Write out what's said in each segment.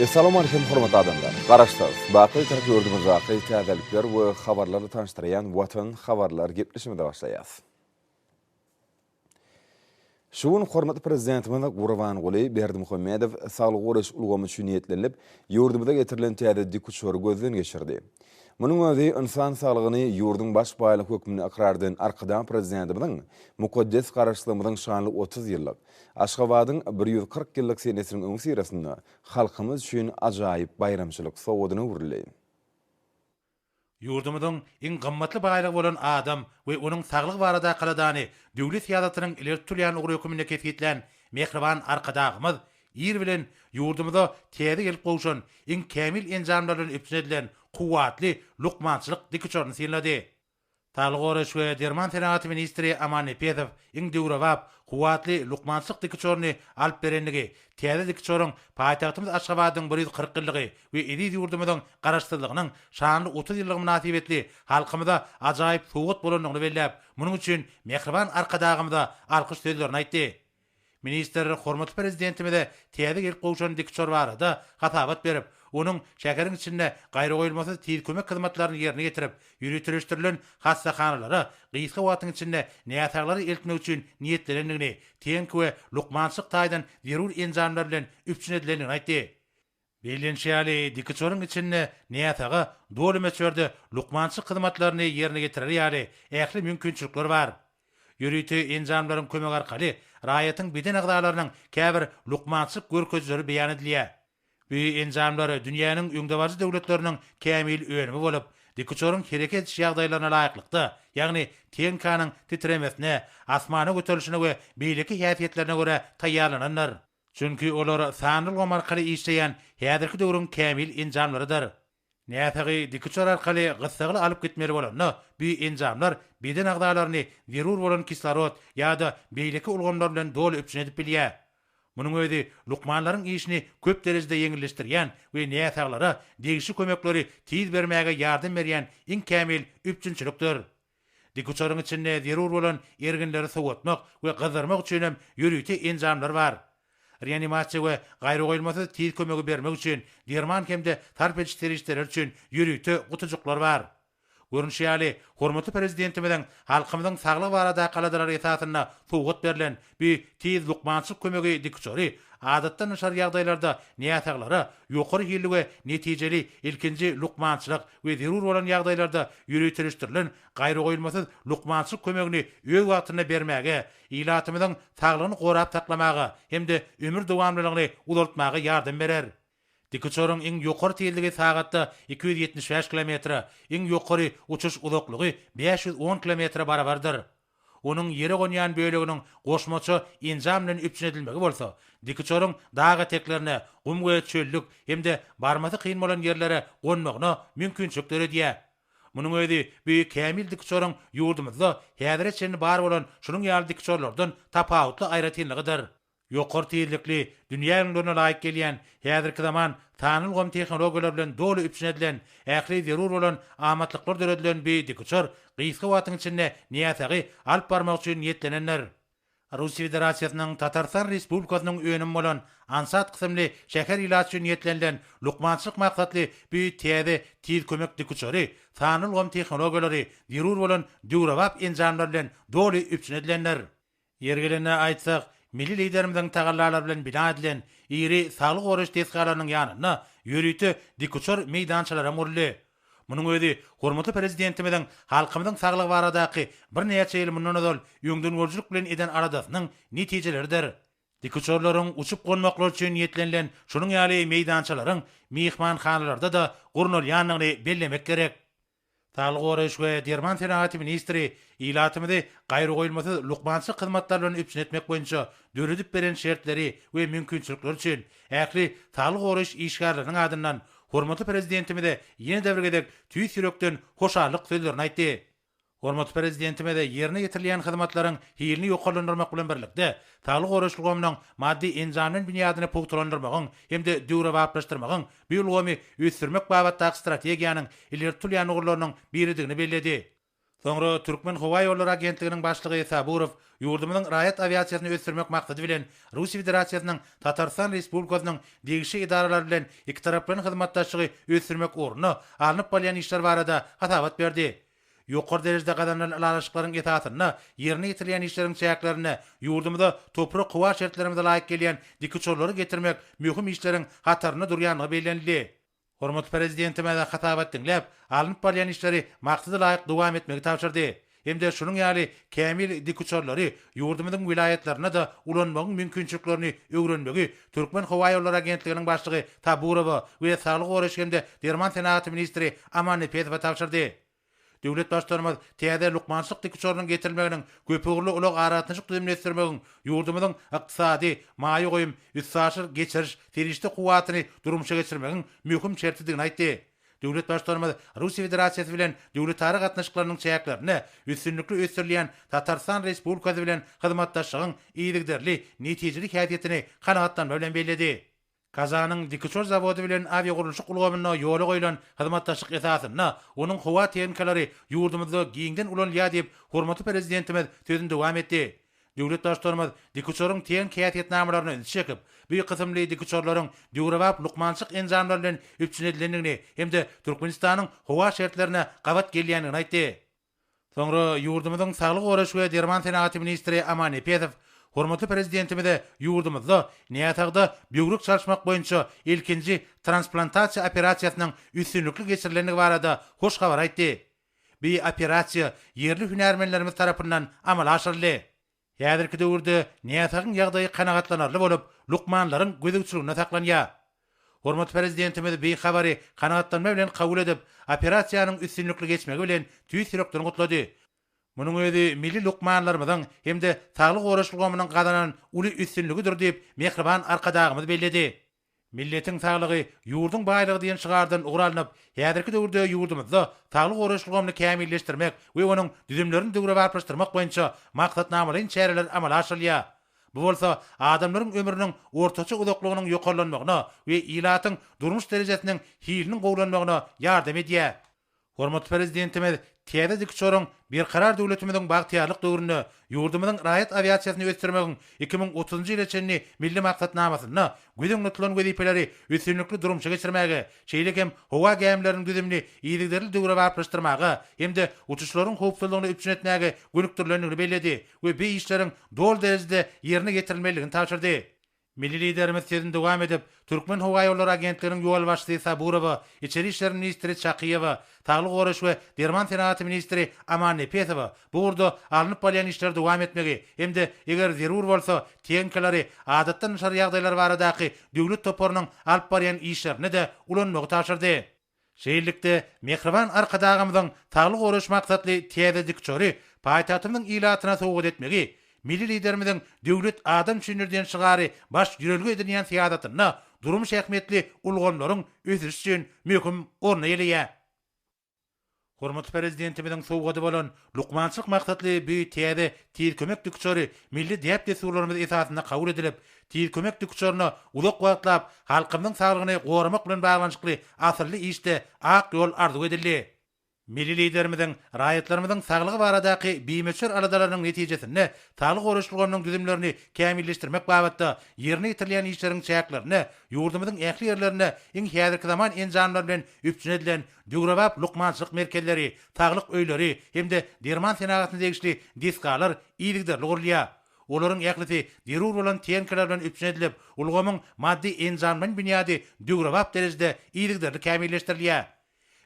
Essalamu Aleýkum hormatly adamlar! Garaşsyz, baky Türk ýurdumyzdaky täzelikler we habarlary tanyşdyrýan Watan habarlar gepleşigimize başlaýas. Şu gün hormatly Prezidentimiz Gurbanguly Berdimuhamedow saglygy goraýyş ulgamy üçin niýetlenilip, ýurdumyza getirilen täze dikuçary gözden geçirdi. Munuň özi ynsan saglygyny ýurduň baş baýlygy hökmünde ykrar eden Arkadag Prezidentimiziň mukaddes Garaşsyzlygymyzyň şanly otuz ýyllyk, Aşgabadyň bir ýüz kyrk ýyllyk senesiniň öňüsyrasynda halkymyz üçin ajaýyp baýramçylyk sowgadyna öwrüldi. Ýurdumyzyň iň gymmatly baýlygy bolan adam we onuň saglygy barada kaladany döwlet syýasatynyň ileri tutulýan ugry hökmünde kesgitlän mähriban Arkadagymyz ir bilen ýurdumyza täze gelip gowşan, iň kämil enjamlar bilen üpjün edilen kuwwatly lukmançylyk dikuçaryny synlady. Saglygy goraýyş we derman senagaty ministri Aman Nepesow iň döwrebap, kuwwatly lukmançylyk dikiçoryny alyp berendigi, täze dikiçoryň paýtagtymyz Aşgabadyň bir ýüz kyrk ýyllygy we eziz ýurdumyzyň Garaşsyzlygynyň şanly otuz ýyllygy mynasybetli halkymyza ajaýyp sowgat bolandygyny belläp, munuň üçin mähriban Arkadagymyza alkyş sözlerini aýtdy. Ministr hormatly Prezidentimize täze gelip gowşan dik uçar barada hasabat berip, onuň şäheriň içinde gaýragoýulmasyz tiz kömek hyzmatlaryny ýerine ýetirip, ýöriteleşdirilen hassahanalara gysga wagtyň içinde näsaglary eltmek üçin niýetlenendigini, tehniki we lukmançylyk taýdan zerur enjamlar bilen üpjün edilendigini aýtdy. Bellenişi ýaly, dikuçaryň içinde näsaga doly möçberde lukmançylyk hyzmatlaryny ýerine ýetirer ýaly ähli mümkinçilikler bar. Ýörite enjamlaryň kömegi arkaly raýatyň beden agzalarynyň käbir lukmançylyk görkezijileri beýan edilýär. Bu enjamlar dünýäniň öňdebaryjy döwletleriniň kämil önümi bolup, dikuçaryň hereket ediş ýagdaýlaryna laýyklykda, ýagny tehnikanyň titremesine, asmana göterilişine we beýleki häsiýetlerine görä taýýarlanandyr. Çünki olar sanly ulgam arkaly işleýän häzirki döwrüň kämil enjamlarydyr. Näsagy dikuçar arkaly gyssagly alyp gitmeli bolanda, bu enjamlar beden agzalaryny zerur bolan kislorod ýa-da beýleki ulgamlar bilen doly üpjün edip bilýär. Munuň özi lukmanlaryň işini köp derejede ýeňilleşdirýän we näsaglara degişli kömekleri tiz bermäge ýardam berýän iň kämil üpjünçilikdir. Dikuçaryň içinde zerur bolan erginleri sowatmak we gyzdyrmak üçin hem ýörite enjamlar bar. Reanimasiýa we gaýragoýulmasyz tiz kömegi bermek üçin derman hem-de sarp ediş serişdeleri üçin ýörite gutujyklar bar. Görnüşi ýaly, hormatly Prezidentimiziň halkymyzyň saglygy baradaky aladalary esasynda sowgat berlen Bu tiz lukmançylyk kömegi dikuçary, adatdan daşary ýagdaýlarda näsaglara ýokary hilli we netijeli ilkinji lukmançylyk we zerur bolan ýagdaýlarda ýöriteleşdirilen gaýragoýulmasyz lukmançylyk kömegini öz wagtynda bermäge, ilatymyzyň saglygyny gorap saklamaga hem-de ömür dowamlylygyny uzaltmaga ýardam berer. Dikuçaryň iň ýokary tizligi sagatda iki ýüz ýetmiş bäş kilometre, iň ýokary uçuş uzaklygy bäş ýüz on kilometre barabardyr. Onuň ýere gonýan böleginiň goşmaça enjam bilen üpjün edilmegi bolsa, dikiçoryň dag eteklerine, gum we çöllük hem-de barmasy kyn bolan ýerlere gonmagyna mümkinçilik döredýär. Munuň özi bu kämil dikiçoryň ýurdumyzda häzire çenli bar bolan şunuň ýaly dikiçorlardan tapawutly aýratynlygydyr. Ýokary tizlikli, dünýä öňlerine laýyk gelýän, häzirki zaman sanly ulgam tehnologiýalary bilen doly üpjün edilen, ähli zerur bolan amatlyklar döredilen bi dikuçar gysga wagtyň içinde näsagy alyp barmak üçin niýetlenendir. Russiýa Federasiýasynyň Tatarystan Respublikasynyň önümi bolan Ansat kysymly şäher ilaty üçin niýetlenilen lukmançylyk maksatly bi täze tiz kömek dikuçary sanly ulgam tehnologiýalary, zerur bolan döwrebap enjamlar bilen doly üpjün edilendir. Ýeri gelende aýtsak, milli Liderimiziň tagallalary bilen bina edilen iri saglygy goraýyş desgalarynyň ýanynda ýörite dikuçar meýdançalaram guruldy. Munuň özi hormatly Prezidentimiziň halkymyzyň saglygy baradaky birnäçe ýyl mundan ozal öňdengörüjilik bilen eden aladasynyň netijeleridir. Dikuçarlaryň uçup-gonmaklary üçin niýetlenilen şunuň ýaly meýdançalaryň myhmanhanalarda-da gurnalýandygyny bellemek gerek. Saglygy goraýyş we derman senagaty ministri ilatymyzy gaýragoýulmasyz lukmançylyk hyzmatlary bilen üpjün etmek boýunça döredip beren şertleri we mümkinçilikleri üçin ähli saglygy goraýyş işgärleriniň adyndan hormatly Prezidentimize ýene-de bir gezek tüýs ýürekden hoşallyk sözlerini aýtdy. Hormatly Prezidentimiz ýerine ýetirilýän hyzmatlaryň hilini ýokarlandyrmak bilen birlikde, saglygy goraýyş ulgamynyň maddy-enjamlaýyn binýadyny pugtalandyrmagyň hem-de döwrebaplaşdyrmagyň bu ulgamy ösdürmek babatdaky strategiýanyň ileri tutulýan ugurlarynyň biridigini belledi. Soňra Türkmenhowaýollary agentliginiň başlygy Saburow ýurdumyzyň raýat awiasiýasyny ösdürmek maksady bilen Russiýa Federasiýasynyň Tatarystan Respublikasynyň degişli edaralary bilen ikitaraplaýyn hyzmatdaşlygy ösdürmek ugrunda alnyp barylýan işler barada hasabat berdi. Ýokary derejede gazanylan ylalaşyklaryň esasynda ýerine ýetirilýän işleriň çäklerinde ýurdumyza toprak-howa şertlerimize laýyk gelýän dikuçarlary getirmek möhüm işleriň hatarynda durýandygy bellenildi. Hormatly Prezidentimiz hasabat diňläp, alnyp barylýan işleri maksada laýyk dowam etmegi tabşyrdy hem-de şunuň ýaly kämil dikuçarlary ýurdumyzyň welaýatlarynda-da ulanmagyň mümkinçiliklerini öwrenmegi Türkmen howa ýollary agentliginiň başlygy Taburowa we saglygy goraýyş hem-de derman senagaty ministri Aman Nepesowa tabşyrdy. Döwlet Baştutanymyz täze lukmançylyk dikuçarynyň getirilmeginiň köpugurly ulag-aragatnaşyk düzümini ösdürmegiň ýurdumyzyň ykdysady, maýa goýum, üstaşyr geçiriş, serişde kuwwatyny durmuşa geçirmegiň möhüm şertidigini aýtdy. Döwlet Baştutanymyz Russiýa Federasiýasy bilen döwletara gatnaşyklarynyň çäklerinde üstünlikli ösdürilýän Tatarystan Respublikasy bilen hyzmatdaşlygyň yzygiderli netijeli häsiýetini kanagatlanma bilen belledi. Kazanyň Dikiçor zawody bilen awiagurluşyk ulgamynda ýola goýlan hyzmatdaşlyk esasynda onuň howa tehnikalary ýurdumyzda giňden ulanylýar diýip, hormatly Prezidentimiz sözüni dowam etdi. Döwlet Baştutanymyz dikuçaryň ten häsiýetnamalaryna ünsi çekip, bu kysymly dikuçarlaryň döwrebap lukmançylyk enjamlary bilen üpjün edilendigini hem-de Türkmenistanyň howa şertlerine gabat gelýändigini aýtdy. Soňra ýurdumyzyň saglygy goraýyş we derman senagaty ministri Aman Nepesow hormatly Prezidentimize ýurdumyzda näsagda böwrek çalyşmak boýunça ilkinji transplantasiýa operasiýasynyň üstünlikli geçirilendigi barada hoş habary aýtdy Bu operasiýa ýerli hünärmenlerimiz tarapyndan amala aşyryldy. Häzirki döwürde näsagyň ýagdaýy kanagatlanarly bolup, lukmanlaryň gözegçiliginde saklanýar. Hormatly Prezidentimiz bu habary kanagatlanma bilen kabul edip, operasiýanyň üstünlikli geçmegi bilen tüýs ýürekden gutlady. Munuň özi milli lukmanlarymyzyň hem-de saglygy goraýyş ulgamynyň gazanan uly üstünligidir diýip, mähriban Arkadagymyz belledi. Milletiň saglygy, ýurduň baýlygy diýen şygardan ugur alnyp, häzirki döwürde ýurdumyzda saglygy goraýyş ulgamyny kämilleşdirmek we onuň düzümlerini döwrebaplaşdyrmak boýunça maksatnamalaýyn çäreler amala aşyrylýar. Bu bolsa adamlaryň ömrüniň ortaça uzaklygynyň ýokarlanmagyna we ilatyň durmuş derejesiniň hiliniň gowulanmagyna ýardam edýär. Hormatly Prezidentimiz täze dik uçaryň Berkarar döwletimiziň bagtyýarlyk döwründe ýurdumyzyň raýat awiasiýasyny ösdürmegiň iki müň otuzynjy ýyla çenli Milli maksatnamasynda göz öňünde tutulan wezipeleri üstünlikli durmuşa geçirmäge, şeýle hem howa gämileriniň düzümini yzygiderli döwrebaplaşdyrmaga hem-de uçuşlaryň howpsuzlygyny üpjün etmäge gönükdirilendigini belledi we bu işleriň doly derejede ýerine ýetirilmelidigini tabşyrdy. Milli Liderimiz sözüni dowam edip, Türkmenhowaýollary agentliginiň ýolbaşçysy Saburowa, içeri işler ministri Çakyýewa, saglygy goraýyş we derman senagaty ministri Amannepesowa bu ugurda alnyp barylýan işleri dowam etmegi hem-de eger zerur bolsa, tehnikalary Adatdan daşary ýagdaýlar baradaky döwlet toparynyň alyp barýan işlerinde-de ulanmagy tabşyrdy. Şeýlelikde, mähriban Arkadagymyzyň sagly goraýyş maksatly täze dikçory paýtagtymyzyň ilatyna sowgat etmegi, milli Liderimiziň Döwlet adam üçindir diýen şygary baş ýörelge edinýän syýasatynda durmuş ähmiýetli ulgamlaryň ösüşi üçin möhüm orny eýeleýär. Hormatly Prezidentimiziň sowgady bolan lukmançylyk maksatly bu täze Tiz kömek dikuçary milli däp-dessurlarymyz esasynda kabul edilip, Tiz kömek dikuçaryna uzak wagtlap halkymyzyň saglygyny goramak bilen baglanyşykly asylly işde ak ýol arzuw edildi. Milli Liderimiziň raýatlarymyzyň saglygy baradaky bimöçber aladalarynyň netijesinde saglygy goraýyş ulgamynyň düzümlerini kämilleşdirmek babatda ýerine ýetirilýän işleriň çäklerinde ýurdumyzyň ähli ýerlerinde iň häzirki zaman enjamlary bilen üpjün edilen döwrebap lukmançylyk merkezleri, saglyk öýleri hem-de derman senagatyna degişli desgalar yzygiderli gurulýar. Olaryň ählisi zerur bolan tehnikalar bilen üpjün edilip, ulgamyň maddy-enjamlaýyn binýady döwrebap derejede yzygiderli kämilleşdirilýär.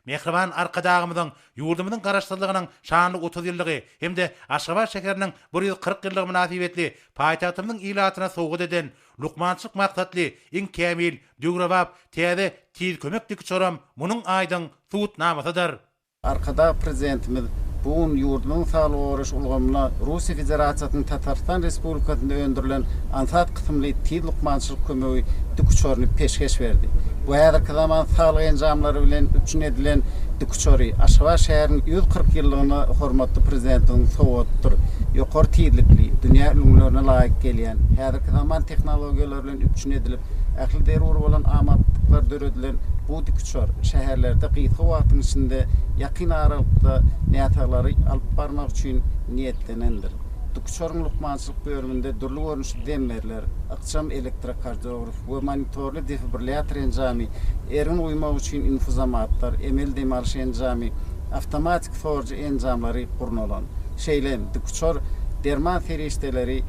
Mähriban Arkadagymyzyň ýurdumyzyň Garaşsyzlygynyň şanly otuz ýyllygy hem-de Aşgabat şäheriniň bir ýüz kyrk ýyllygy mynasybetli paýtagtymyzyň ilatyna sowgat eden Lukmançylyk maksatly iň kämil Döwrebap täze Tiz kömek dikiçoram munuň aýdyň subutnamasydyr. Arkadag Prezidentimiz bu gün ýurdumyzyň saglygy goraýyş ulgamyna Russiýa Federasiýasynyň Tatarystan Respublikasynda öndürilen aňsat kysymly Tiz lukmançylyk kömegi dikiçoryny peşgeş berdi. Bu häzirki zaman saglyk enjamlary bilen üpjün edilen dikiçory Aşgabat şäheriniň ýüz kyrk ýyllygyna hormatly Prezidentimiziň sowgatydyr. Ýokary tizlikli, dünýä ülňülerine laýyk gelýän, häzirki zaman tehnologiýalary bilen bilen üpjün edilip, ähli zerur bolan amatlyklar döredilen bu dikuçar şäherlerde gysga wagtyň içinde ýakyn aralykda näsaglary alyp barmak üçin niýetlenendir. Dikuçaryň lukmançylyk bölüminde dürli görnüşli zemberler, ykjam elektrokardiograf we monitorly defibrillýator enjamy, ergin uýmak üçin infuzomatlar, emeli dem alyş enjamy, awtomatiki sorujy enjamlary gurnalan. Şeýle hem dikuçar derman serişdeleri,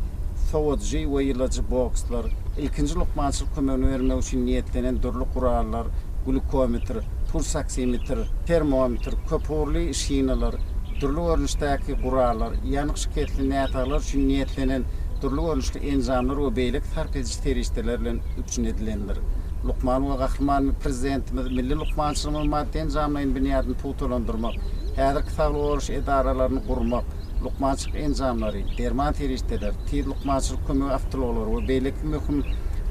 sowujy we ýylyjy bokslar, ilkinji lukmançylyk kömegini bermek üçin niýetlenen dürli gurallar, glýukometr, pulsoksimetr, termometr, köpugurly şinalar, dürli görnüşdäki gurallar, ýanyk şikesli näsaglar üçin niýetlenen dürli görnüşli enjamlar we beýleki sarp ediji serişdeler bilen üpjün edilendir. Lukman we Gahryman Prezidentimiz milli lukmançylygymyzyň maddy-enjamlaýyn binýadyny pugtalandyrmak, häzirki saglygy goraýyş edaralaryny gurmak, lukmançylyk enjamlary, derman serişdeleri, tiz lukmançylyk kömegi awtoulaglary we beýleki möhüm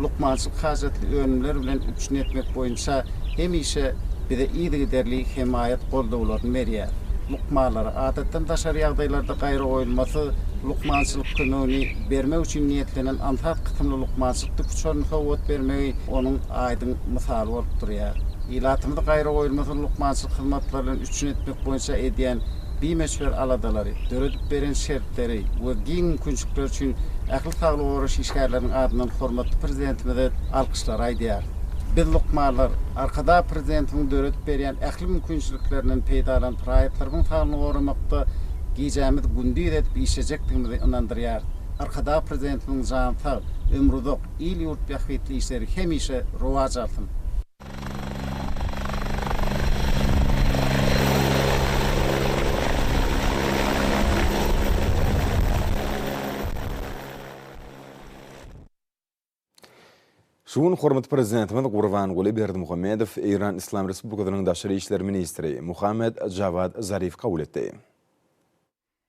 lukmançylyk hajatly önümler bilen üpjün etmek boýunça hemişe bize yzygiderli hemaýat-goldawlaryny berýär. Lukmanlara, adatdan daşary ýagdaýlarda gaýragoýulmasyz lukmançylyk kömegini bermek üçin niýetlenen aňsat kysymly lukmançylyk dükuçaryny sowgat bermegi onuň aýdyň mysaly bolup durýar. Ilatymyzy gaýragoýulmasyz lukmançylyk hyzmatlary bilen üpjün etmek boýunça edýän bimöçber aladalary, döredip beren şertleri we giň mümkinçilikleri üçin ähli saglygy goraýyş işgärleriniň adyndan hormatly Prezidentimize alkyşlary aýdýarys. Biz, lukmanlar, Arkadag Prezidentimiziň döredip berýän ähli mümkinçiliklerinden peýdalanyp, raýatlarymyzyň saglygyny goramakda gijämizi gündiz edip işlejekdigimizi ynandyrýarys. Arkadag Prezidentimiziň jany sag, ömri uzak, il-ýurt bähbitli işleri hemişe rowaç alsyn! Şu gün hormatly Prezidentimiz Gurbanguly Berdimuhamedow Eýran Yslam Respublikasynyň daşary işler ministri Mohammad Jawad Zarifi kabul etdi.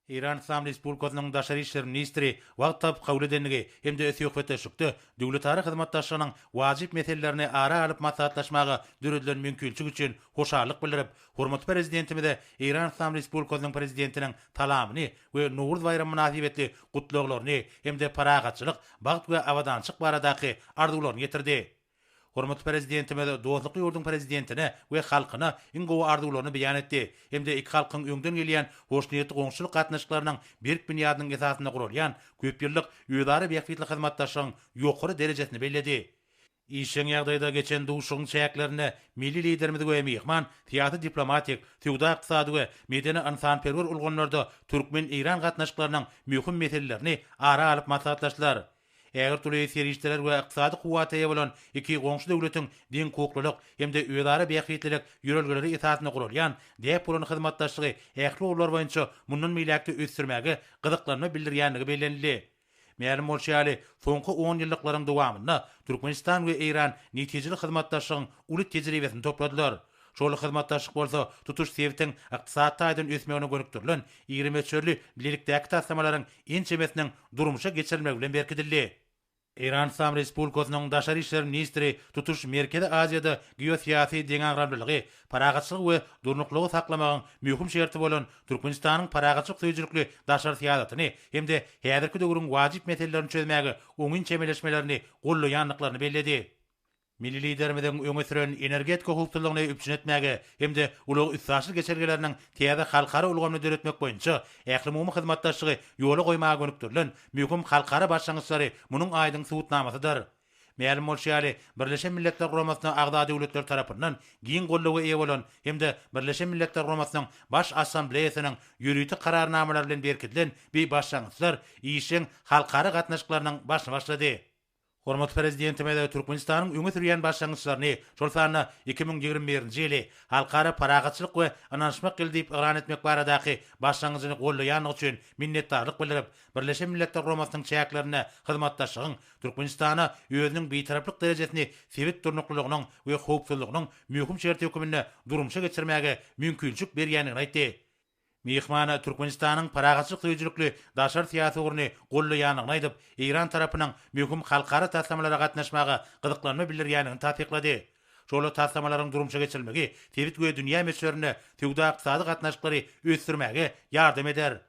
Eýran Yslam Respublikasynyň Daşary işler ministri wagt tapyp kabul edendigi hem-de söhbetdeşlikde döwletara hyzmatdaşlygynyň wajyp meselelerini ara alyp maslahatlaşmaga döredilen mümkinçilik üçin hoşallyk bildirip, hormatly Prezidentimize Eýran Yslam Respublikasynyň Prezidentiniň talabyny we Nowruz baýramy mynasybetli gutlaglaryny hem-de parahatçylyk, bagt we abadançylyk baradaky arzuwlaryny ýetirdi. Hormatly Prezidentimiz dostlukly ýurduň Prezidentine we halkyna iň gowy arzuwlaryny beýan etdi hem-de iki halkyň öňden gelýän hoşniýetli goňşuçylyk gatnaşyklarynyň berk binýadynyň esasynda guralýan köp ýyllyk özara bähbitli hyzmatdaşlygyň ýokary derejesini belledi. Işjeň ýagdaýda geçen duşuşygyň çäklerinde milli Liderimiz we myhman syýasy-diplomatik, söwda-ykdysady we medeni-ynsanperwer ulgamlarda türkmen-eýran gatnaşyklarynyň möhüm meselelerini ara alyp maslahatlaşdylar. Ägirtürli serişdeler we ykdysady kuwwata eýe bolan iki goňşy döwletiň deňhukuklylyk hem-de özara bähbitlilik ýörelgeleri esasynda guralýan däp bolan hyzmatdaşlygy ähli ugurlar boýunça mundan beýläk-de ösdürmäge gyzyklanma bildirýändigi bellenildi. Mälim bolşy ýaly, soňky onýyllyklaryň dowamynda Türkmenistan we Eýran netijeli hyzmatdaşlygyň uly tejribesini topladylar. Şol hyzmatdaşlyk bolsa tutuş sebitiň ykdysady taýdan ösmegine gönükdirilen iri möçberli bilelikdäki taslamalaryň ençemesiniň durmuşa geçirilmegi bilen berkidildi. Eýran Yslam Respublikasynyň Daşary işler ministri tutuş Merkezi Aziýada geosyýasy deňagramlylygy, parahatçylygy we durnuklylygy saklamagyň möhüm şerti bolan Türkmenistanyň parahatçylyk söýüjilikli daşary syýasatyny hem-de häzirki döwrüň wajyp meselelerini çözmäge oňyn çemeleşmelerini gollaýandyklaryny belledi. Milli Liderimiziň öňe süren energetika howpsuzlygyny üpjün etmäge hem-de ulag-üstaşyr geçelgeleriniň täze halkara ulgamyny döretmek boýunça ählumumy hyzmatdaşlygy ýola goýmaga gönükdirilen möhüm halkara başlangyçlary munuň aýdyň subutnamasydyr. Mälim bolşy ýaly, Birleşen Milletler Guramasyna agza döwletler tarapyndan giň goldawa eýe bolan hem-de Birleşen Milletler Guramasynyň Baş Assambleýasynyň ýörite kararnamalary bilen berkidilen bi başlangyçlar işjeň halkara gatnaşyklarynyň başyny başlady. Hormatly Prezidentimiz Türkmenistanyň öňe sürýän başlangyçlaryny, şol sanda iki müň ýigrimi birinji ýyly Halkara parahatçylyk we ynanyşmak ýyly diýip yglan etmek baradaky başlangyjyny goldaýandygy üçin minnetdarlyk bildirip, Birleşen Milletler Guramasynyň çäklerinde hyzmatdaşlygyň Türkmenistana özüniň Bitaraplyk derejesini sebit durnuklylygynyň we howpsuzlygynyň möhüm şerti hökmünde durmuşa geçirmäge mümkinçilik berýändigini aýtdy. Myhman Türkmenistanyň parahatçylyk söýüjilikli daşary syýasy ugruny goldaýandygyny aýdyp, Eýran tarapynyň möhüm halkara taslamalara gatnaşmaga gyzyklanma bildirýändigini tassyklady. Şol taslamalaryň durmuşa geçirilmegi sebit we dünýä möçberinde söwda-ykdysady gatnaşyklary ösdürmäge ýardam eder.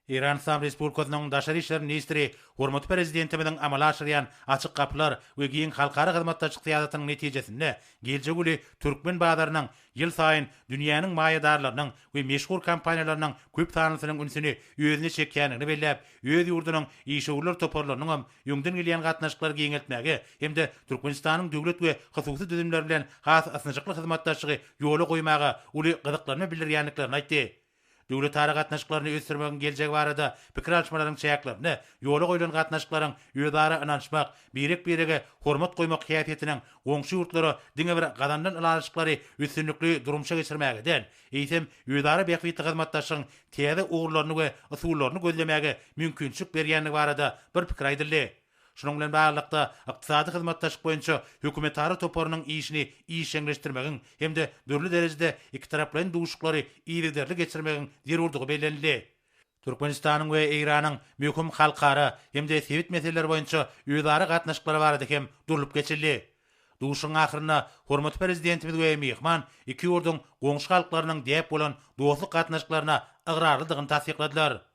Eýran Yslam Respublikasynyň Daşary işler ministri hormatly Prezidentimiziň amala aşyrýan Açyk gapylar we giň halkara hyzmatdaşlyk syýasatynyň netijesinde geljek uly türkmen bazarynyň Ýylsaýyn dünýäniň maýadarlarynyň we meşhur kompaniýalarynyň köp sanlysynyň ünsüni özüne çekýändigini belläp, öz ýurdunyň işewürler toparlarynyň hem öňden gelýän gatnaşyklary giňeltmäge hem-de Türkmenistanyň döwlet we hususy düzümleri bilen has ysnyşykly hyzmatdaşlygy ýola goýmaga uly gyzyklanma bildirýändiklerini aýtdy. Döwletara gatnaşyklaryny ösdürmegiň geljegi barada pikir alyşmalaryň çäklerinde ýola goýlan gatnaşyklaryň özara ynanyşmak, birek-birege hormat goýmak häsiýetiniň goňşy ýurtlara diňe bir gazanylan ylalaşyklary üstünlikli durmuşa geçirmäge däl, eýsem, özara bähbitli hyzmatdaşlygyň täze ugurlaryny we usullaryny gözlemäge mümkinçilik berýändigi barada bir pikir aýdyldy. Şunuň bilen baglylykda, Ykdysady hyzmatdaşlyk boýunça hökümetara toparynyň işini işjeňleşdirmegiň hem-de dürli derejede ikitaraplaýyn duşuşyklary yzygiderli geçirmegiň zerurdygy bellenildi. Türkmenistanyň we Eýranyň möhüm halkara hem-de sebit meseleleri boýunça özara gatnaşyklary barada hem durlup geçildi. Duşuşygyň ahyrynda hormatly Prezidentimiz we myhman iki ýurduň goňşy halklarynyň däp bolan dostluk gatnaşyklaryna ygrarlydygyny tassykladylar.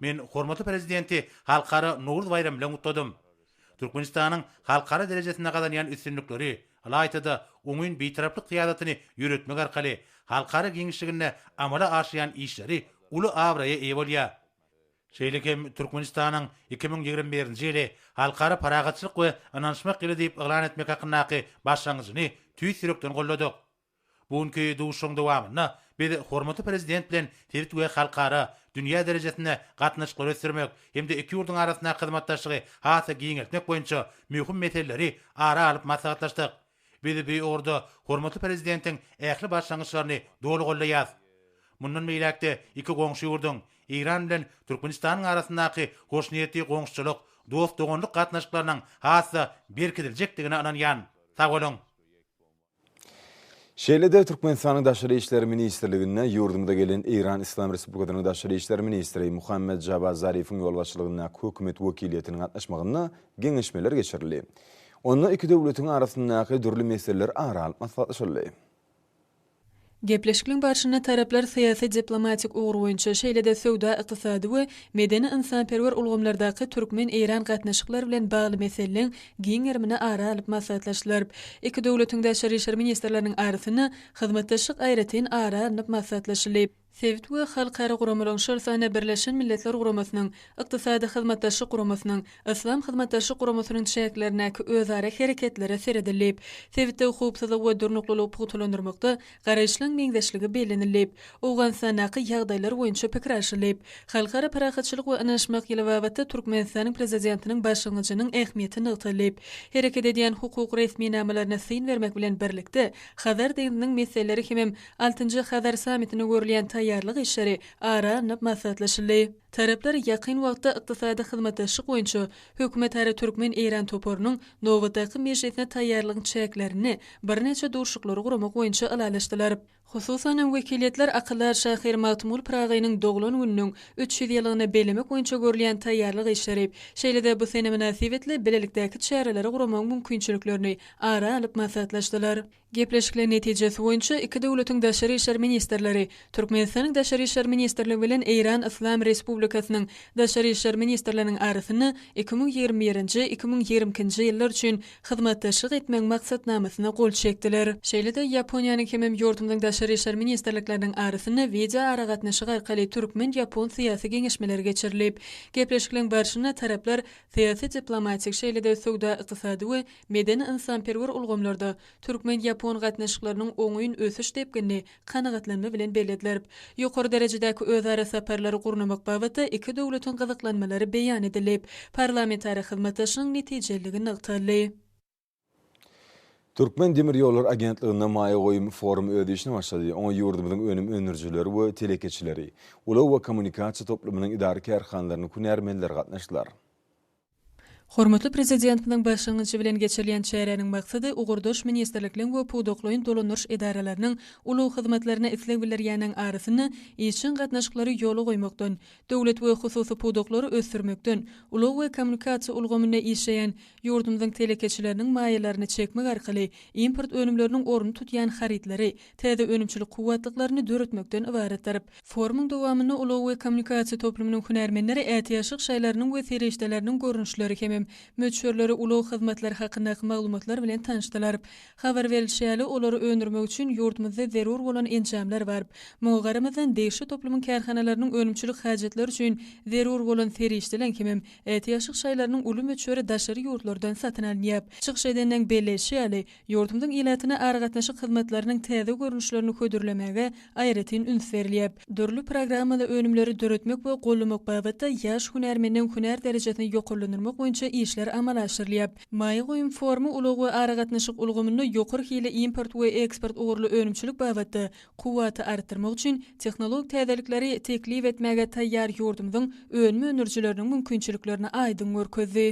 Men hormatly Prezidenti Halkara Nowruz baýramy bilen gutladym. Türkmenistanyň halkara derejesinde gazanýan üstünlikleri, ylaýta-da, oňyn Bitaraplyk syýasatyny ýöretmek arkaly halkara giňişliginde amala aşyrýan işleri uly abraýa eýe bolýar. Şeýle hem Türkmenistanyň iki müň ýigrimi birinji ýyly Halkara parahatçylyk we ynanyşmak ýyly diýip yglan etmek hakyndaky başlangyjyny tüýs ýürekden goldadyk. Bu günki duşuşygyň dowamynda biz hormatly Prezident bilen sebit we halkara, dünýä derejesinde gatnaşyklary ösdürmek hem-de iki ýurduň arasyndaky hyzmatdaşlygy has-da giňeltmek boýunça möhüm meseleleri ara alyp maslahatlaşdyk. Biz bu ugurda hormatly Prezidentiň ähli başlangyçlaryny doly goldaýarys. Mundan beýläk-de iki goňşy ýurduň, Eýran bilen Türkmenistanyň arasyndaky hoşniýetli goňşuçylyk, dost-doganlyk gatnaşyklarynyň has-da berkidiljekdigine ynanýan. Sag boluň! Şeýle-de Türkmenistanyň Daşary işler ministrliginde ýurdumyza gelen Eýran Yslam Respublikasynyň Daşary işler ministri Muhammad Jawad Zarifiň ýolbaşçylygyndaky hökümet wekiliýetiniň gatnaşmagynda geňeşmeler geçirildi. Onda iki döwletiň arasyndaky dürli meseleler ara alnyp maslahatlaşyldy. Gepleşikliň barşynda taraplar syýasy-diplomatik ugur boýunça, şeýle-de söwda-ykdysady we medeni-ynsanperwer ulgamlardaky türkmen-eýran gatnaşyklary bilen bagly meseleleň giň gerimini ara alyp maslahatlaşylaryp, iki döwletiň daşary işler ministrleriniň arasynda hyzmatdaşlyk aýratyn ara alnyp maslahatlaşylyp, sebit we halkara guramalaryň, şol sanda Birleşen Milletler Guramasynyň, Ykdysady Hyzmatdaşlyk Guramasynyň, Yslam Hyzmatdaşlyk Guramasynyň çäklerindäki özara hereketlere seredilip, sebitdäki howpsuzlygy we durnuklylygy pugtalandyrmakda garaýyşlaryň meňzeşligi bellenilip, Owganystandaky ýagdaýlar boýunça pikir alşylyp, Halkara parahatçylyk we ynanyşmak ýyly babatda Türkmenistanyň Prezidentiniň başlangyjynyň ähmiýeti nygtalyp, hereket edýän hukuk resminamalaryna syn bermek bilen birlikde, Hazar deňziniň meseleleri hemem altynjy Hazar sammitine görülýän taýýarlyk işleri ara alnyp maslahatlaşyldy. Taraplar ýakyn wagtda ykdysady hyzmatdaşlyk boýunça hökümetara türkmen-eýran toparynyň nobatdaky mejlisine taýýarlygyň çäklerinde birnäçe duşuşyklary guramak boýunça ylalaşdylar. Hususan hem wekiliýetler akyldar şahyr Magtymguly Pyragynyň doglan gününiň üç ýüz ýyllygyny bellemek boýunça görülýän taýýarlyk işleri, şeýle-de bu sene mynasybetli bilelikdäki çäreleri guramagyň mümkinçiliklerini ara alyp maslahatlaşdylar. Gepleşikler netijesi boýunça iki döwletiň daşary işler ministrleri Türkmenistanyň Daşary işler ministrligi bilen Eýran Yslam Respublikasynyň Daşary işler ministrleriniň arasynda iki müň ýigrimi birinji, iki müň ýigrimi ikinji ýyllar üçin hyzmatdaşlyk etmegiň maksatnamasyna gol çekdiler. Şeýle-de, Ýaponiýanyň hemem ýurdumyzyň Daşary işler ministrlikleriniň arasynda wideoaragatnaşyk arkaly türkmen-ýapon syýasy geňeşmeleri geçirilip, gepleşikleň barşynda taraplar syýasy-diplomatik, şeýle-de söwda-ykdysady we medeni-ynsanperwer ulgamlarda türkmen-ýapon gatnaşyklarynyň oňyn ösüş depginini kanagatlanma bilen belledlerp, ýokary derejedäki özara saparlary gurnamak babatda iki döwletiň gyzyklanmalary beýan edilip, parlamentara hyzmatdaşlygyň netijeliligi nygtaldy. Türkmen demir ýollary agentliginde maýa goýum forumy öz işine başlady. Oňa ýurdumyzyň önüm öndürijileri we telekeçileri, ulag we kommunikasiýa toplumynyň edara-kärhanalarynyň hünärmenleri gatnaşdylar. Hormatly Prezidentimiziň başlangyjy bilen geçirilýän çäräniň maksady ugurdaş ministrlikliň we pudaklaýyn dolandyryş edaralarynyň ulag hyzmatlaryna isleg bildirýäniň arasynda işjeň gatnaşyklary ýola goýmakdan, döwlet we hususy pudaklary ösdürmekden, ulag we kommunikasiýa ulgamynda işleýän ýurdumyzyň telekeçileriniň maýalaryny çekmek arkaly import önümleriniň ornuny tutýan harytlary täze önümçilik kuwwatlyklaryny döretmekden ybaratdyr. Forumyň dowamynda ulag we kommunikasiýa toplumynyň hünärmenleri ätiýaçlyk şaýlarynyň we serişdeleriniň görnüşleri hemem möçberleri, ulag hyzmatlary hakyndaky maglumatlar bilen tanyşdylar. Habar berlişi ýaly, olary öndürmek üçin ýurdumyzda zerur bolan enjamlar bar. Muňa garamazdan, degişli toplumyň kärhanalarynyň önümçilik hajatlary üçin zerur bolan serişdeleň hemem ätiýaçlyk şaýlarynyň uly möçberi daşary ýurtlardan satyn alynýar. Çykyş edenleň belleýşi ýaly, Ýurdumyzyň ilatyna aragatnaşyk hyzmatlarynyň täze görnüşlerini hödürlemäge aýratyn üns berilýär. Dürli programmaly önümleri döretmek we gollamak babatda ýaş hünärmeniniň hünär derejesini ýokarlandyrmak boýunça işler amala aşyrylýar. Maýa goýum forumy ulag we aragatnaşyk ulgamynda ýokary hilli import we eksport ugurly önümçilik babatda kuwwaty artdyrmak üçin tehnologik täzelikleri teklip etmäge taýýar ýurdumyzyň önüm öndürijileriniň mümkinçiliklerini aýdyň görkezdi.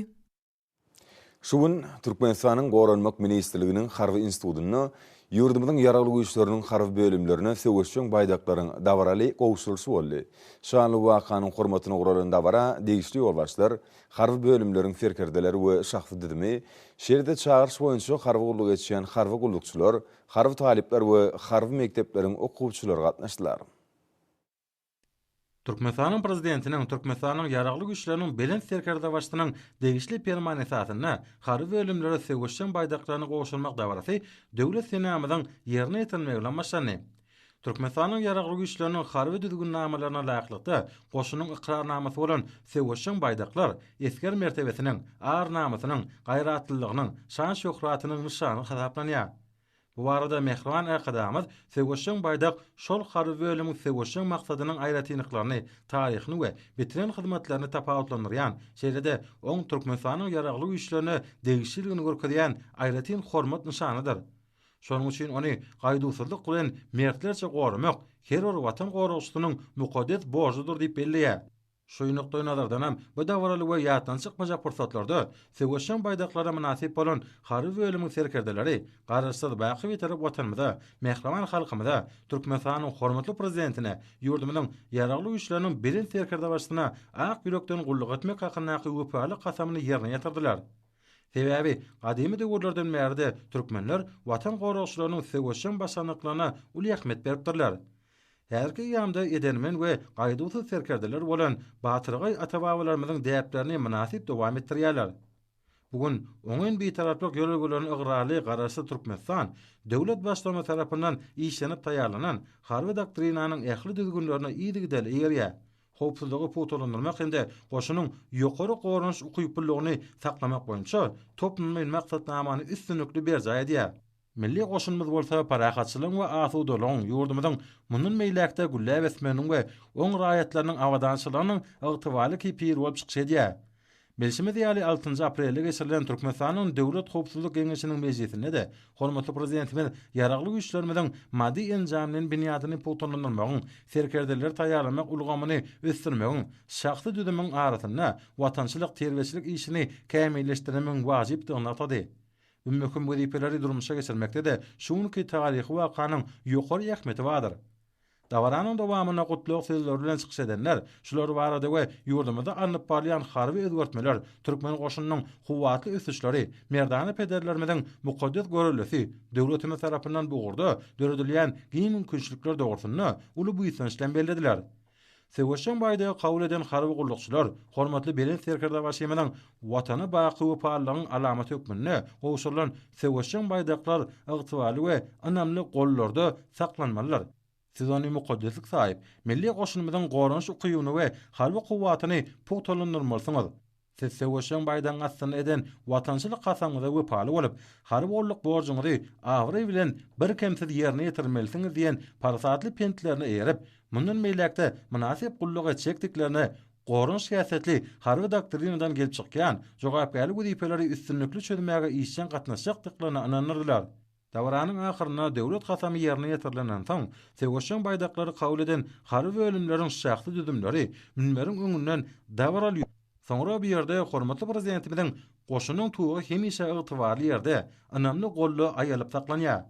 Şu gün Türkmenistanyň Goranmak ministrliginiň Harby institutynda ýurdumyzyň Ýaragly Güýçleriniň harby bölümlerine söweşjeň baýdaklaryň dabaraly gowşurylyşy boldy. Şanly wakanyň hormatyna guralan dabara degişli ýolbaşçylar, harby bölümleriň serkerdeleri we şahsy düzümi, şeýle-de çagyryş boýunça harby gulluk etýän harby gullukçylar, harby talyplar we harby mekdepleriň okuwçylary gatnaşdylar. Türkmenistanyň Prezidentiniň, Türkmenistanyň Ýaragly Güýçleriniň Belent Serkerdebaşysynyň degişli Permany esasynda harby bölümlere söweşjeň baýdaklaryny gowşurmak dabarasy Döwlet senamyzyň ýerine ýetirilmegi bilen başlandy. Türkmenistanyň Ýaragly Güýçleriniň harby düzgünnamalaryna laýyklykda goşunyň ykrarnamasy bolan söweşjeň baýdaklar esger mertebesiniň, ar-namysynyň, gaýratlylygynyň, şan-şöhratynyň nyşany hasaplanýar. Bu barada mähriban Arkadagymyz Söweşjeň baýdak şol harby bölümiň söweşjeň maksadynyň aýratynlyklaryny, taryhyny we bitiren hyzmatlaryny tapawutlandyrýan, şeýle-de oň Türkmenistanyň Ýaragly Güýçlerine degişliligini görkezýän aýratyn hormat nyşanydyr. Şonuň üçin ony gaýduwsyzlyk bilen mertlerçe goramak her bir Watan goragçysynyň mukaddes borjudyr diýip belleýär. Şu nukdaýnazardanam, bu dabaraly we ýatdan çykmajak pursatlarda söweşjeň baýdaklara mynasyp bolan harby bölümiň serkerdeleri Garaşsyz, baky Bitarap Watanymyza, mähriban halkymyza, Türkmenistanyň hormatly Prezidentine, ýurdumyzyň Ýaragly Güýçleriniň Belent Serkerdebaşysyna ak ýürekden gulluk etmek hakyndaky wepaly kasamyny ýerine ýetirdiler. Sebäbi, gadymy döwürlerden bäri-de türkmenler Watan goragçylarynyň söweşjeň başarnyklaryna uly ähmiýet beripdirler. Häzirki eýýamda edermen we gaýduwsyz serkerdeler bolan batyrgaý ata-babalarymyzyň däplerini mynasyp dowam etdirýärler. Bu gün oňyn bitaraplyk ýörelgelerine ygrarly Garaşsyz Türkmenistan döwlet Baştutany tarapyndan işlenip taýýarlanan Harby doktrinanyň ähli düzgünlerine yzygiderli eýerýär, howpsuzlygy pugtalandyrmak hem-de goşunyň ýokary goranyş ukyplylygyny saklamak boýunça toplumlaýyn maksatnamany üstünlikli berjaý edýär. Milli goşunymyz bolsa parahatçylygyň we asudalygyň, ýurdumyzyň mundan beýläk-de gülläp ösmeginiň we oň raýatlarynyň abadançylygynyň ygtybarly kepili bolup çykyş edýär. Bilşimiz ýaly, altynjy aprelde geçirilen Türkmenistanyň Döwlet howpsuzlyk geňeşiniň mejlisinde-de hormatly Prezidentimiz Ýaragly Güýçlerimiziň maddy-enjamlaýyn binýadyny pugtalandyrmagyň, serkerdeleri taýýarlamak ulgamyny ösdürmegiň, şahsy düzümiň arasynda watançylyk terbiýeçilik işini kämilleşdirmegiň wajypdygyny nygtady. Bu möhüm wezipeleri durmuşa geçirmekde-de şu günki taryhy wakanyň ýokary ähmiýeti bardyr. Dabaranyň dowamynda gutlag sözleri bilen çykyş edenler şular barada we ýurdumyzda alnyp barylýan harby özgertmeler, türkmen goşunynyň kuwwatly ösüşleri, merdana pederlerimiziň mukaddes görellesi, döwletimiz tarapyndan bu ugurda döredilýän giň mümkinçilikler dogrusynda uly buýsanç bilen bellediler. Söweşjeň baýdagy kabul eden harby gullukçylar hormatly Belent Serkerdebaşymyzyň Watana baky wepalylygyň alamaty hökmünde gowşurylan söweşjeň baýdaklar ygtybarly we ynamly gollarda saklanmalydyr. Siz ony mukaddeslik saýyp, milli goşunymyzyň goranyş ukybyny we harby kuwwatyny pugtalandyrmalysyňyz. Siz söweşjeň baýdagyň astynda eden watançylyk kasamyňyza wepaly bolup, harby gulluk borjuňyzy abraý bilen birkemsiz ýerine ýetirmelisiňiz diýen parasatly pentlerine eýerip, mundan beýläk-de mynasyp gulluk etjekdiklerine goran şikäsetli Harby doktrinadan gelip çykýan jogapkärli wezipeleri üstünlikli çözmäge işjeň gatnaşjakdyklaryna ynandyrdylar. Dabaranyň ahyrynda Döwlet kasamy ýerine ýetirilenden soň, söweşjeň baýdaklary kabul eden harby bölümleriň şahsy düzümleri münberiň öňünden dabaraly ýörüp, soňra bu ýerde hormatly Prezidentimiziň Goşunyň tugy hemişe ygtybarly ýerde, ynamly golda aýalyp saklanýar.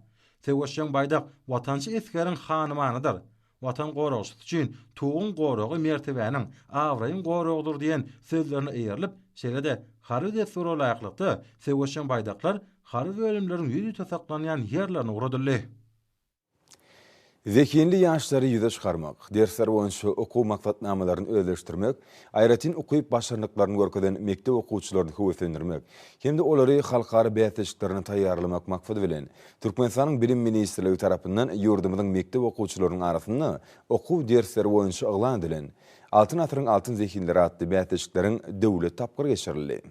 Söweşjeň baýdak watançy esgeriň hanymanydyr. Watan goragçysy üçin Tuguň goragy mertebäniň, abraýyň goragydyr diýen sözlerine eýerilip, şeýle-de harby dessura laýyklykda, söweşjeň baýdaklar harby bölümleriň ýüzüte saklanýan ýerlerine ugradyldy. Zehinli ýaşlary ýüze çykarmak, dersler boýunça okuw maksatnamalaryny özleşdirmek, aýratyn ukyp-başarnyklaryny görkezen mekdep okuwçylaryny höweslendirmek hem-de olary halkara bäsleşiklerine taýýarlamak maksady bilen, Türkmenistanyň Bilim ministrligi tarapyndan ýurdumyzyň mekdep okuwçylarynyň arasynda okuw dersleri boýunça yglan edilen Altyn asyryň altyn zehinleri atly bäsleşikleriň döwlet tapgyry geçirildi.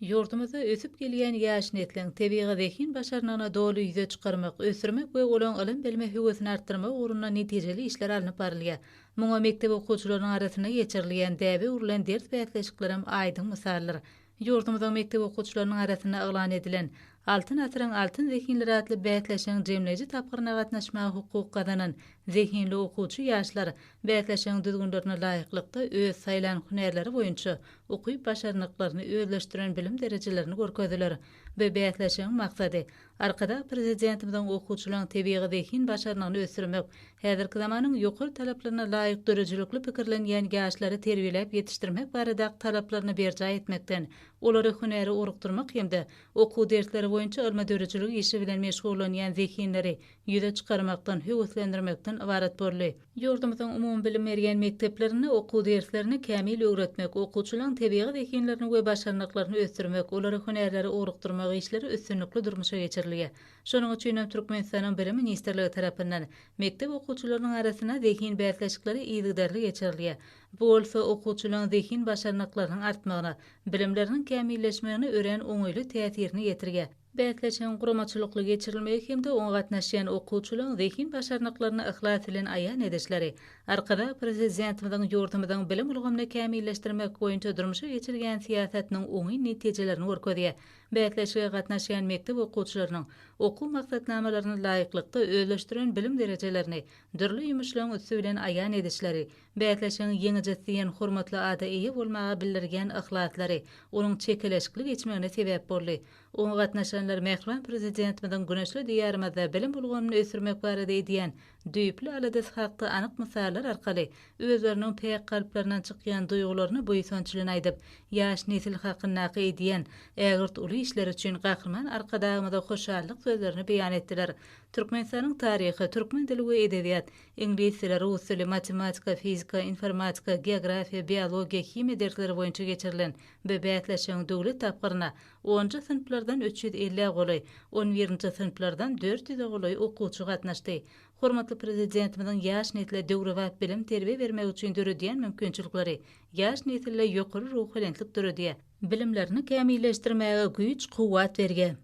Ýurdumyzda ösüp gelýän ýaş nesliň tebigy zehin-başarnygyny doly ýüze çykarmak, ösdürmek we olaň ylym-bilime höwesini artdyrmak ugrunda netijeli işler alnyp barylýar. Muňa mekdep okuwçylarynyň arasynda geçirilýän däbe öwrülen ders bäsleşiklerem aýdyň mysaldyr. Ýurdumyzyň mekdep okuwçylarynyň arasynda yglan edilen Altyn asyryň altyn zehinleri atly bäsleşigiň jemleýji tapgyryna gatnaşmaga hukuk gazanan zehinli okuwçy ýaşlar bäsleşigiň düzgünlerine laýyklykda öz saýlan hünärleri boýunça ukyp-başarnyklaryny özleşdiren bilim derejelerini görkezdiler we bäsleşigiň maksady Arkadag Prezidentimiziň okuwçylaryň tebigy zehin başarnygyny ösdürmek, häzirki zamanyň ýokary talaplaryna laýyk döredijilikli pikirlenýän ýaşlary terbiýeläp ýetişdirmek baradaky talaplaryny berjaý etmekden, olary hünäre orukdyrmak hem-de okuw dersleri boýunça ylmy-döredijilik işi bilen meşgullanýan zehinleri ýüze çykarmakdan höweslendirmekden ybarat boldy. Ýurdumyzyň umumybilim berýän mekdeplerinde okuw derslerini kämil öwretmek, okuwçylaryň tebigy zehinlerini we başarnyklaryny ösdürmek, olara hünärleri ugrukdyrmak işleri üstünlikli durmuşa geçirilýär. Şonuň üçin hem Türkmenistanyň Bilim ministrligi tarapyndan mekdep okuwçylarynyň arasynda zehin bäsleşikleri yzygiderli geçirilýär. Bu bolsa okuwçylaryň zehin başarnyklarynyň artmagyna, bilimleriniň kämilleşmegine örän oňaýly täsirini ýetirýär. Bäsleşigiň guramaçylykly geçirilmegi hem-de oňa gatnaşýan okuwçylaryň zehin başarnyklaryny yhlas bilen aýan edişleri Arkadag Prezidentimiziň ýurdumyzyň bilim ulgamyny kämilleşdirmek boýunça durmuşa geçirýän syýasatynyň oňyn netijelerini görkezýär. Bäsleşige gatnaşýan mekdep okuwçylarynyň okuw maksatnamalaryna laýyklykda özleşdiren bilim derejelerini dürli ýumuşlaryň üsti bilen aýan edişleri Bäsleşigiň ýeňijisi diýen hormatly ada eýe bolmaga bildirgen yhlaslary onuň çekeleşikli geçmegine sebäp boldy. Oňa gatnaşanlar mähriban Prezidentimiziň güneşli Diýarymyzda bilim ulgamyny ösdürmek barada edýän düýpli aladasy hakda anyk mysallar arkaly özleriniň päk kalplaryndan çykýan duýgularyny buýsançlyn aýdyp, ýaş nesil hakyndaky edýän ägirt uly işleri üçin Gahryman Arkadagymyza hoşallyk sözlerini beýan etdiler. Türkmenistanyň taryhy, türkmen dili we edebiýat, Iňlis dili, rus dili, matematika, fizika, informatika, geografiýa, biologiýa, himiýa dersleri boýunça geçirilen bu bäsleşigiň döwlet tapgyryna onunjy synplardan üç ýüz elli golaý, on birinji synplardan dört ýüze golaý okuwçy gatnaşdy. Hormatly Prezidentimiziň ýaş nesle döwrebap bilim-terbiýe bermek üçin döredýän mümkinçilikleri ýaş nesilde ýokary ruhubelentlik döredýär, bilimlerini kämilleşdirmäge güýç-kuwwat berýär.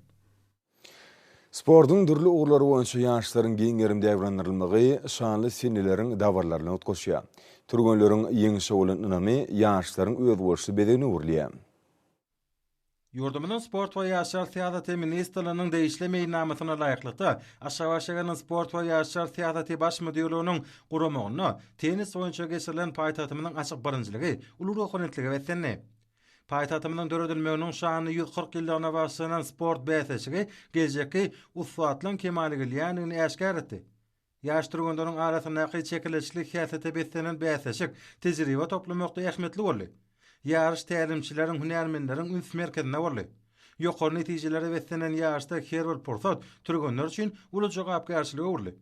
Sportuň dürli ugurlary boýunça ýaşlaryň giň gerim dabranylmagy şanly seneleriň dabaralaryny utgaşýar. Türgenleriň ýeňşe bolan ynamy ýaşlaryň özboluşly bezegine öwrülýär. Ýurdumyzyň Sport we ýaşlar syýasaty ministrliginiň degişli meýilnamasyna laýyklykda, Aşgabat şäheriniň Sport we ýaşlar syýasaty baş müdirliginiň guramagynda tennis boýunça geçirilen paýtagtymyzyň açyk birinjiligi uly ruhubelentlige beslendi. Paýtagtymyzyň döredilmeginiň şanly ýüz kyrk ýyllygyna bagyşlanan sport bäsleşigi geljekki ussatlaryň kemala gelýändigini äşgär etdi. Ýaş türgenleriň arasyndaky çekeleşikli häsiýete beslenen bäsleşik tejribe toplamakda ähmiýetli boldy. Ýaryş tälimçileriň, hünärmenleriň üns merkezinde boldy. Ýokary netijelere beslenen ýaryşda her bir pursat türgenler üçin uly jogapkärçilige öwrüldi.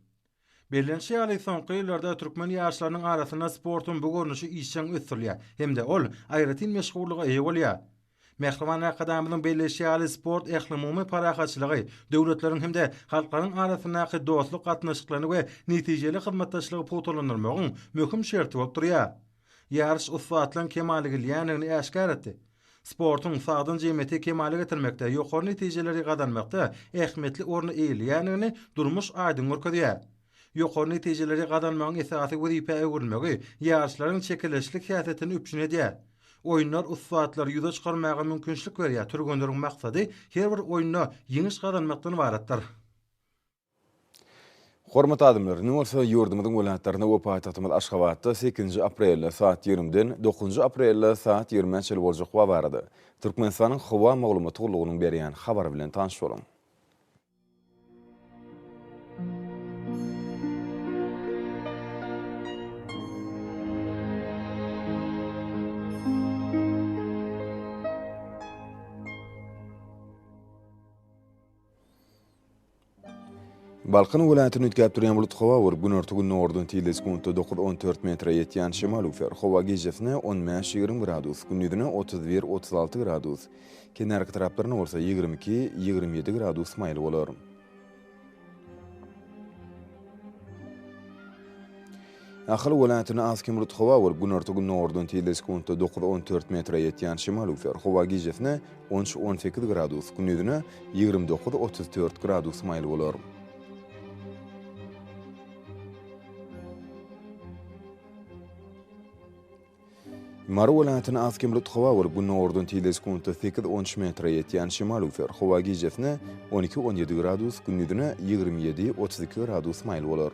Bellenişi ýaly, soňky ýyllarda türkmen ýaşlarynyň arasynda sportuň bu görnüşi işjeň ösdürilýär hem-de ol aýratyn meşhurlyga eýe bolýar. Mähriban Arkadagymyzyň belleýşi ýaly, sport ählumumy parahatçylygy, döwletleriň hem-de halklaryň arasyndaky dostluk gatnaşyklaryny we netijeli hyzmatdaşlygy pugtalandyrmagyň möhüm şerti bolup durýar. Ýaryş ussatlaryň kemala gelýändigini äşgär etdi. Sportuň sagdyn jemgyýeti kemala getirmekde, ýokary netijeleri gazanmakda ähmiýetli orny eýeleýändigini durmuş aýdyň görkezýär. Ýokary netijeleri gazanmagyň esasy wezipä öwrülmegi ýaryşlaryň çekeleşikli häsiýetini üpjün edýär. Oýunlar ussatlary ýüze çykarmaga mümkinçilik berýär, türgenleriň maksady her bir oýunda ýeňiş gazanmakdan ybaratdyr. Hormatly adamlar, indi bolsa ýurdumyzyň welaýatlaryna we paýtagtymyz Aşgabatda sekizinji aprelde saat ýigrimiden dokuzynjy aprelde saat ýigrimä çenli boljak howa barada Türkmenistanyň Howa maglumat gullugynyň berýän habary bilen tanyş boluň. Balkan welaýatyny üýtgäp durýan bulut howa bir günorta-gündogardan tizligi sekuntda dokuz, on dört metre ýetýän şemal üflär. Howa gijesine on bäş, ýigrimi gradus, gündizine otuz bir, otuz alty gradus, kenarki taraplarynda bolsa ýigrimi iki, ýigrimi ýedi gradus maýyl bolar. Ahal welaýatyna az kem rut howa bolup, günorta-gündogardan tizde sekuntda dokuz on dört metre ýetýän şemal üflär, howa gijesine on üç on sekiz gradus, gündizine ýigrimi dokuz otuz dört gradus maýyl bolar. Mary welaýatyna az kemrut howa bolup, gündogardan tile sekuntda sekiz on üç metre ýetýän şemal üfler. Howa gijesine on iki on ýedi gradus, gündizine ýigrimi ýedi otuz iki gradus maýyl bolar.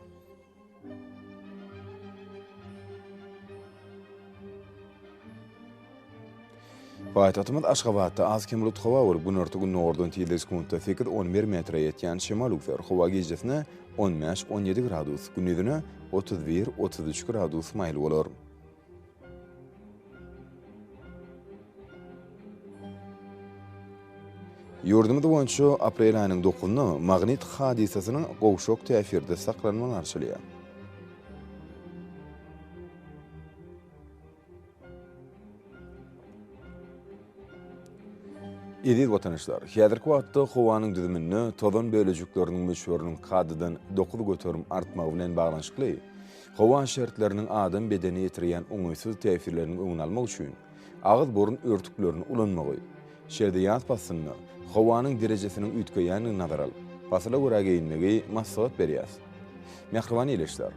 Paýtagtymyz Aşgabatda az-kem bulut howa bolup, günorta-gündogardan tizligi sekuntda sekiz, on bir metre ýetýän şemal üwser. Howa gijesine on bäş, on ýedi gradus, gündizine otuz bir, otuz üç gradus maýyl bolar. Ýurdumyz boýunça aprel aýynyň dokuzyna magnit hadysasynyň gowşak täsirde saklanmagy garşylýar. Eziz watandaşlar, häzirki wagtda howanyň düzüminde tozan bölejikleriniň möçberiniň kadadan dokuz göterim artmagy bilen baglanyşykly, Howa şertleriniň adam bedenine ýetirýän oňaýsyz täsirleriniň öňüni almak üçin agyz-burun örtüklerini ulanmagy. Şeýle-de ýaz paslynda howanyň derejesiniň üýtgeýändigini nazara alyp, pasyla görä geýinmegi maslahat berýäs. Mähriban ildeşler!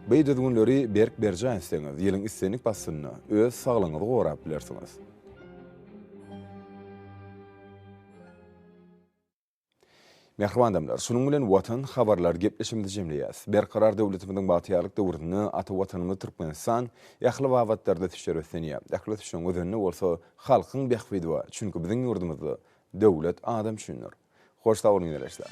By düzgünleri berk berjaý etseňiz, ýylyň islendik paslynda öz saglygyňyzy gorap bilersiňiz. Mähriban adamlar, şunuň bilen Watan habarlar gepleşigimizi jemleýäs. Berkarar döwletimiziň bagtyýarlyk döwründe ata Watanymyz Türkmenistan ähli babatlarda ösüşe röslenýär. Ähli ösüşiň özeninde bolsa halkyň bähbidi bar, çünki biziň ýurdumyzda Döwlet adam üçindir. Hoş sag boluň ýoldaşlar!